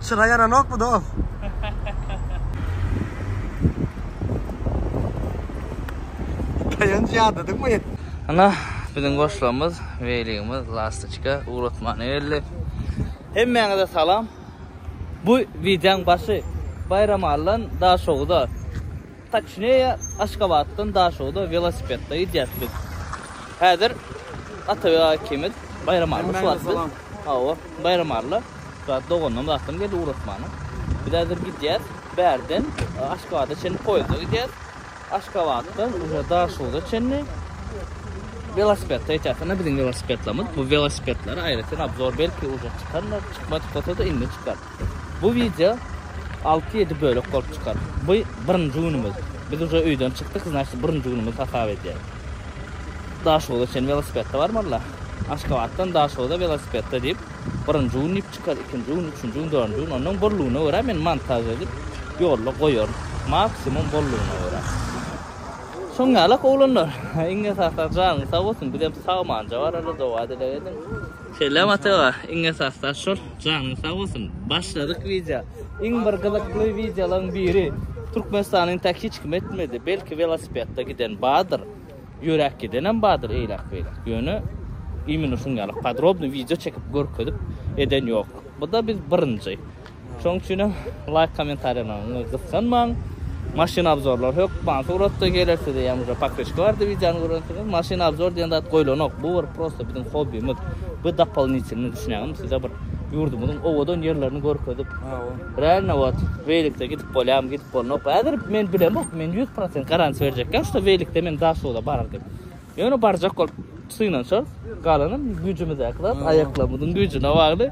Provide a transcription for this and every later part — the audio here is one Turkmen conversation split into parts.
Çyra ýananok bu dos. Daýanç ýadadyňmy? Ana, biziň goşlamyz, Weligimiz, Lastiçka, ugratmana geldi. Hemmäňize salam. Bu wideoň başy Baýramalydan Daşoguza. Toçneye Aşgabatdan Daşogda welosipedda gidýäs biz. Häzir Atabek aga ikimiz Baýramalla şu wagt biz. Hawa, Baýramalla. Şu wagt doganlarymyz akşam geldi ugratmana. Biz häzir gidýäs. Bärden Aşgabada çenli poýezda gidýäs. Aşgabatdan uje Daşogda çenli welosipedda gidýäs. Ine biziň welosipedlerimiz. Bu welosipedlere aýratyn obzor belki uje çykandyr, çykmadyk bolsa-da indi çykar. Bu wideo alty ýedi bölek bolup çykar. Bu birinji günümiz. Biz uje öýden çykdyk, znaçt birinji günümiz hasap edýäs. Daşoguzda sen welosipedde barmyrla? Aşgabatdan Daşoguza welosipedde diýip, birinji gün diýip çykar, ikinji gün, üçünji gün, dördünji gün, onnoň bollugyna görä men montaž edip ýolda goýaryn. Maksimum bollugyna görä. Şoň ýalak oglanlar. Iň esasy janyň sag bolsun, bizem sagmanja barala doga-dileg ediň. Selam Ata aga, iň esasda şol, janyň sag bolsun. Başladyk wideo. Iň bir gyzykly wideolaryň biri. Türkmenistanyň tak hiç kim etmedi. Belki welosipedda giden bardyr. Ýöräp gidenem bardyr eýläk-beýläk. Ýöne imенно şuň ýaly podrobny wideo çekip görkezip eden ýok. Bu-da biz birinji. Şoň üçinem laýk kommentariýalaryňy gysganmaň. Maşyn abzorlary hökman suratda geler size ýa muja pakreçki bardy wideony görensiňiz. Maşyn abzor diýen zat goýlanok. Bu bir prosta biziň hobbimiz. Bu dopolnitilny düşünýäňizmi size bir ýurdumyzyň owadan ýerlerini görkezip. Realno wot welikde gidip bolýarmy gidip bolnok. Häzir men bilemok men 100% garantiýa berjekkäm şuda welikde men daşuda barar diýip. Ýöne barjak bolup synanyşarys. Galanam güýjümizdäki zat aýaklarymyzyň güýjüne bagly.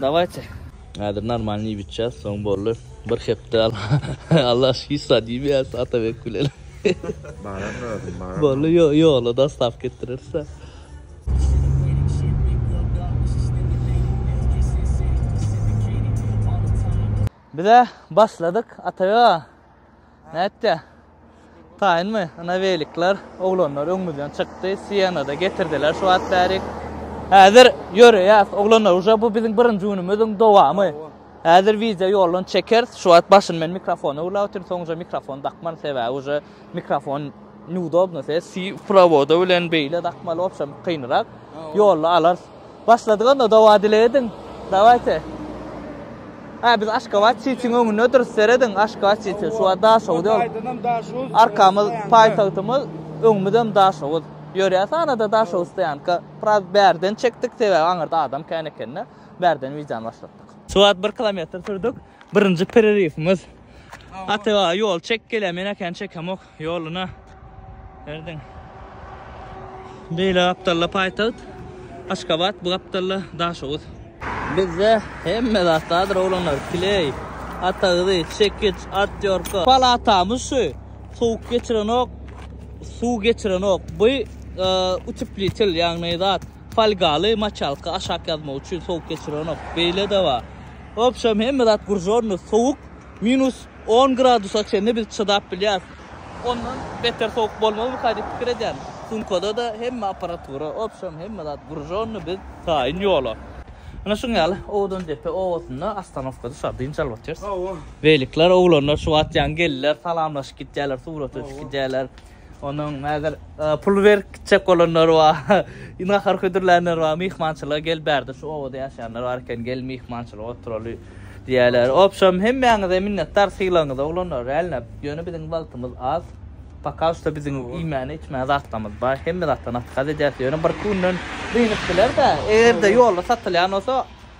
Dawayte. Häzir normalny iýip içýäs, soň boldy. Bir hepde Allah hiç zat iýmeýäs Atabek bilen. Baran özüm baran. Boldy ýola dostaw getireris. Bize başladyk Atabek aga. Nätdi? Taýynmy? Ana welikler, oglanlar öňümizden çykdy. Siýenada getirdiler şu wagt bärik. Häzir ýöreýäs, oglanlar, uje bu biziň birinji günümiziň dowamy. Häzir wideo ýoldan çekeris. Şu wagt başyny men mikrofona urlap otyryn, soňunja mikrofon dakman, sebäbi uje mikrofon neudobno, se si prowoda bilen beýle dakmaly, obşem kynrak. Ýolda alarys. Başladyk onda dowa dile ediň. Dawayte. Ha biz Aşgabat çiçiň öňünde durus serediň Aşgabat çiçi şu wagt Daşoguz ýol. Aýdanam Daşoguz. Arkamyz paýtagtymyz, öňümizem Daşoguz. Ýörýä sanada Daşoguz stoýanka. Biraz bärden çekdik sebäbi aňyrda adam kän ekende. Bärden wideony başlatdyk. Şu wagt 1 kilometr sürdük. Birinji pereriwimiz. Ata ýol çek gelýär men ekeni çekem ok. Ýoluna erdiň. Beýle gapdalla paýtagt Aşgabat, bu gapdalla Daşoguz. Bizde hemme zat bardyr oglanlar, kleý, ata gyzy, çekiç, atýorka. Palatamyz şu, sowuk geçirenok, suw geçirenok. Bu uteplitel ýagny zat, folgaly maçalka aşak ýazmak üçin sowuk geçirenok. Beýle-de bar. Wobşem hemme zat guržonny, sowuk, minus On gradusa çenli biz çydap bilýäris. Ondan beter sowuk bolmazmyka diýip pikir edýän. Sumkada-da hemme apparatura, obşam hemme zat grujony biz taýyn ýola. Ine şuň ýaly Owdandepe obasynda ostanowka düşer, dynç alyp otyrys. Hawa. Weliler, oglanlar şu wagt ýaňy geldiler, salamlaşyp gitýärler, surata düşüp gidýärler. Onuň häzir pul berip gitjek bolanlary bar. Nahar hödürlänler bar. Myhmançylyga gel bärde şu obada ýaşaýanlar bar eken, gel myhmançylyga oturaly diýýärler. Obşem hemmäňize minnetdar sylagyňyza oglanlar rälnäp. Ýöne biziň wagtymyz az. Poka şda biziň iýmäne içmäne zatlarymyz bar. Hemme zatdan atkaz edýäs. Ýöne birki günden dynyp biler-dä. Eger-de ýolda satylýan bolsa.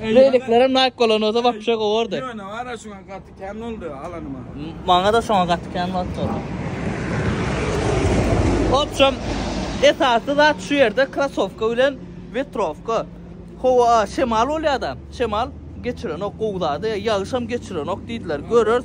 Reliklerem naýk bolan olsa wapşe gowardy. Ýöne ara şuňa gaty kän boldy alanyma. Maňa-da şoňa gaty kän bolupdyr. Obşem, esasy zat şu ýerde krasowka bilen wetrowka. Howa, şemal bolýar-da, şemal geçirenok gowy zady, ýagyşam geçirenok diýdiler. Göreris.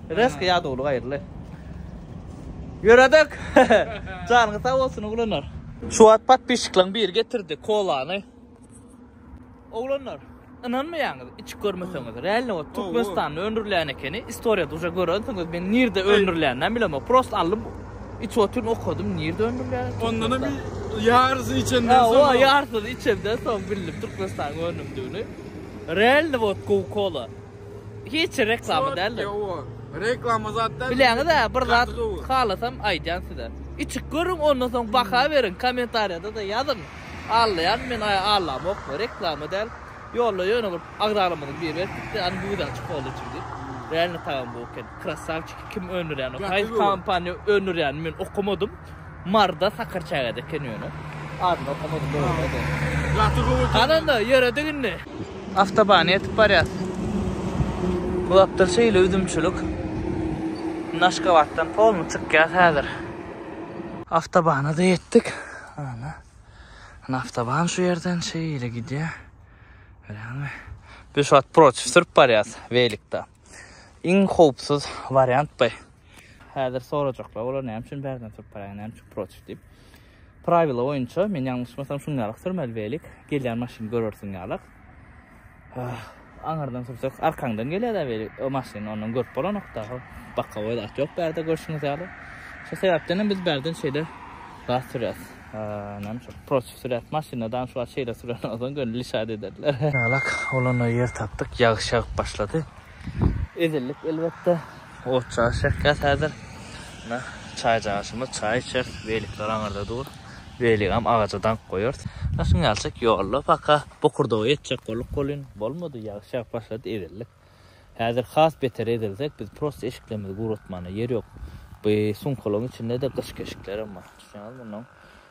Resk ya dolu gaýyrly. Ýöredik. Janyňyz sag bolsun oglanlar. Şu wagt podpisçiklaň biri getirdi kolany. Oglanlar, ynanmaýaňyz, içip görmeseňiz. Realno ot Türkmenistanda öndürilýän ekeni. Istoriýa duja görensiňiz. Men nirde öndürilýänini bilemok. Prosta aldym, içip otyryn, okadym, nirde öndürilýän. Ondanam bir ýarysyny içenden soň. Hawa, ýarysyny içenden soň bildim Türkmenistanyň önümdigini. Realno ot gowy kola. Hiç reklama däldir. Ýok, reklama zat däl. Bileňiz-ä, bir zat halasam aýdýan size. Içip görüň, ondan soň baha beriň, kommentariýada-da ýazyň. Allaýan men aý allamok, reklama däl. Ýolda ýöne bir agzalarymyzyň biri berip gitdi, ony gözi açyk boldy içip diýip. Reально tagam gowy eken. Krasawçik, kim öndürýän ony? Haýsy kompaniýa öndürýänini men okamadym. Marda sakar çaga eken ýöne adyny okamadym dogrymy aýdaýyn. Hananda ýöredik indi. Awtobana ýetip barýas. Bu gapdal şeýle üzümçilik. Indi Aşgabatdan polny çykýas häzir. Awtobana-da ýetdik. Ana. Indi awtoban şu ýerden şeýle gidýär. Görýäňmi? Biz şu wagt protiv sürüp barýas welikda. Iň howpsuz wariant by. Häzir sorajaklar olar näme üçin bärden turup baraýan, näme üçin protiv diýip. Prawila boýunça men ýalňyşmasam şuňňalyk sürmeli beýlik, gelýän maşyny görersiň ýalak. Ah, aňyrdan sürseň arkaňdan gelýär-de beýlik, o maşyny ondan görüp bolanok-da, bakowy zat ýok bärde görşüňiz ýaly. Şo sebäpden hem biz bärden şeýle zat sürýäs. Näme üçin protiv sürýäs, maşyny adam şu wagt şeýle süren bolsaň gönüli şat ederler. Ýalak, olanda ýer tapdyk, ýagyş ýagyp başlady. Ezildik elbetde. Ot çaş ýakýas häzir. Mine, çaý çaşymyz, çaý içeris. Beýlekler aňyrda dur. Beýlegem agaja daňyp goýarys. Daşyň ýalçak ýolda paka bokurdaga ýetjek bolduk welin, bolmady, ýagyş ýagyp başlady, ezildik. Häzir has beter ezilsek, biz prosta eşiklerimizi guratmana ýer ýok. Bu sumkalaryň içinde-de gyş keşiklerem bar. Düşünýäňizmi? Mundan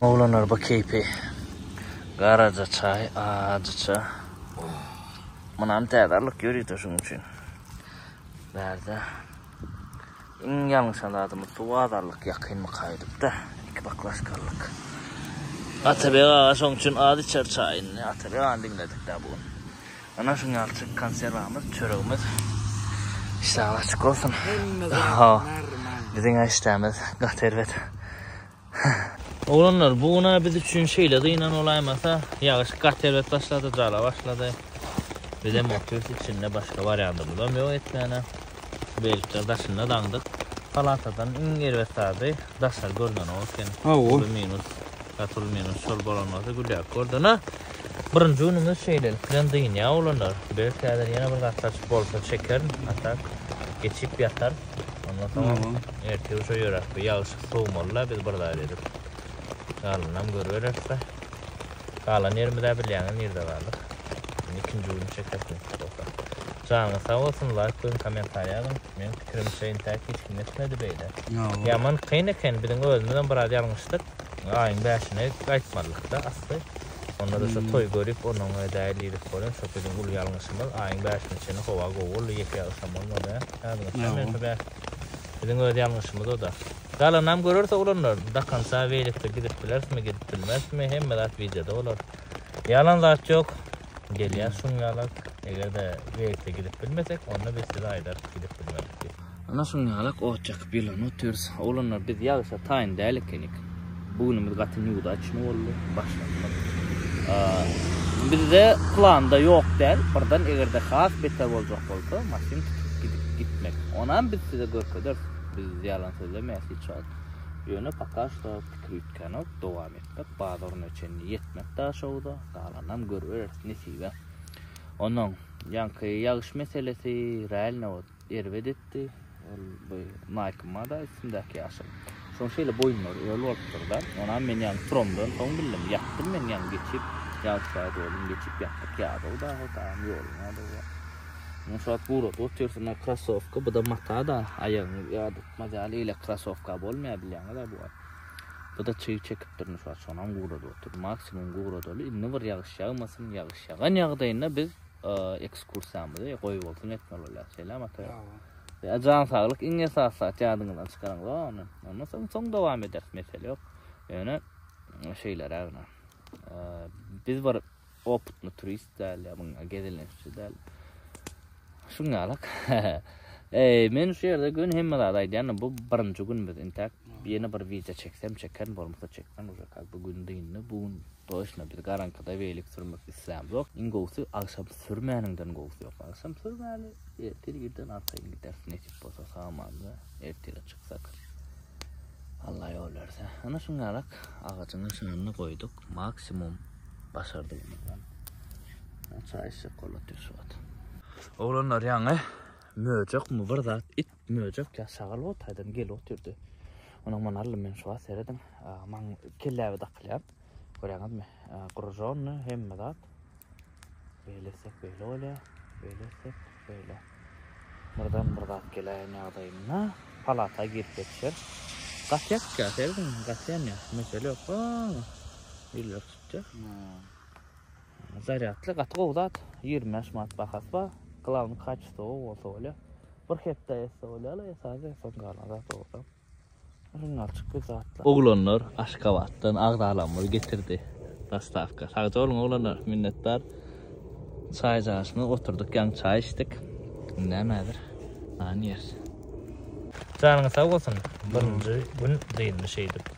Oglanlar bu keýpi. Garaja çaý, ajy çaý. Munam täzarlyk ýöride şuň üçin. Bärde. Iň ýalňyş adamyz suw azarlyk ýakynmy kaýdypda. Iki baklaşkalyk. Atabek aga şoň üçin az içer çaýyny. Atabek agany diňledik da bu gün. Ana şu ýalçyk konserwamyz, çöregimiz. Işler açyk bolsun. Biziň işlerimiz gaty erbet. Oglanlar, bu gün biz üçin şeýle dynan bolaýmasa, ýagyş gaty erbet başlady, jala başlady. Biz hem otyrys içinde, başga barýandymyzam ýok etmäne. Beýlekler daşynda daňdyk. Palatadan iň erbet zady daşary görnenok ekeni. Uly minus, gaty uly minus şol bolan bolsa gülýärdik ordan. Birinji günümiz şeýlelik bilen dynýar oglanlar. Belki häzir ýene bir gatlaçyk bolsa çekerin, a tak geçip ýatar. Ondan soňam ertir uşa ýöräp bir ýagşy sowmaly-la biz bir zat edip. Galanyny görübereris-de. Galan ýerimiz-ä bilýäňiz nirde galdyk. Indi ikinji gün çekeris nesip bolsa. Janyňyz sag bolsun, laýk goýuň, kommentariýa ýazyň. Meniň pikirimçe intäk hiç kim etmedi beýle. Ýaman kyn eken, biziň özümizem biraz ýalňyşdyk. Aýyň bäşine gaýtmalydyk-da asly. Onda-da şo toý görüp, onuň edäýeli diýdik bolýar. Şo biziň uly ýalňyşymyz. Aýyň bäşine çenli howa gowy boldy, ýeke-ýag ysam bolmady. Ýadyňyzda mensiň bäh. Biziň öz ýalňyşymyz o-da. Galanam görers oglanlar. Dakança weýlikde gidip bilerismi, gidip bilmerismi, hemme zat wideoda bolar. Ýalan zat ýok. Gelýär şuň ýaly. Eger-de weýlikde gidip bilmesek, onda biz size aýdarys gidip bilmedik diýip. Ana şuňňalak ot ýakyp ýylan otyrys. Oglanlar biz ýagyşa taýyn däl ekenik. Bu günümiz gaty newdaçny boldy. Başlandyk. Bizde planda ýok däl. Birden egerde has beter boljak bolsa maşyn tutup gidip gitmek. Onam biz size görkederis. Biz ýalan sözlemeýäs hiç wagt. Ýöne paka şo pikir üýtgänok. Dowam etmek bazaryna çenli ýetmek daşogza. Galanynam görübereris nesibe. Onam ýaňky ýagyş meselesi realno Erbet etdi. Ol bu Nike mada üstündäki ýaşyl. Şoň şeýle boýunlary öl bolupdyr-da. Onam men ýaňy turamdan soň bildim. Ýatdym men ýaňy geçip. Ýagyş ýaýdy welin geçip ýatdyk ýadygy dagy tamam ýolunmadygy bar. Muňa şu wagt guradyp otyrsyn a krasowka bu-da mata-da aýagyňy ýadyrtmaz ýaly eýle krasowka bolmaýar bilýäňiz-ä bu wagt. Bu-da çyg çekipdir indi şu wagt şonam guradyp otyr. Maksimum guradaly indi bir ýagyş ýagmasyn. Ýagyş ýagan ýagdaýynda biz. ekskursiýamyzy goý bolsun etmeli bolýar. Selam ata. Ýa jan saglyk iň esasy zat ýadyňyzdan çykaryň we ony. Ondan soň soň dowam ederis mesele ýok. Ýöne şeýle rägna. Biz bir oputny turist däl ýa muňa gezelenççi däl. Şuň ýalak. Eý, men şu ýerde gün hemme zat aýdýan, bu birinji günümiz intäk. Ýene bir wideo çeksem çeken bolmasa çekmän, bu gün dyndy, bu gün Toçna biz garaňkyda weýlik sürmek islämzok. Iň gowsy agşam sürmäniňden gowsy ýok. Agşam sürmäli, ertir irden arkaýyn gideris nesip bolsa samanda ertire çyksak. Allah ýol berse. Ana şuň ýalak agajyň nyşanyny goýduk. Maksimum başardygymyzdan. Çaý içjek golat ýör şu wagt. Oglanlar ýaňy möjekmi bir zat it Möjek ýa şagal ot aýdan gel otyrdy. Onuň man aldym men şuwagt serediň. Maň kelläbe dakylýar. Görýäňizmi? Grujony hemme zat. Beýle etsek beýle bolýar. Beýle etsek beýle. Birden bir zat geläýen ýagdaýynda palata girip ýetişer. Gatýak ýa serediň gatýan ýa. Mesele ýok. Ýüller tutýar. Zarýadly gaty gowy zat. Ýigrimi bäş manat bahasy bar. Glawny kaçestwowy bolsa bolýar. Bir hepde etse bolýar, esasy etse galan zat owadan. Ryngalçyk bir zatlar. Oglanlar Aşgabatdan agzalarymyz getirdi. Dostawka. Sagja boluň oglanlar, minnetdar. Çaý jaşyna oturdyk, ýaňy çaý içdik. Indem häzir nan ýeris. Janyňyz sag bolsun, birinji gün dynmyş eýdip.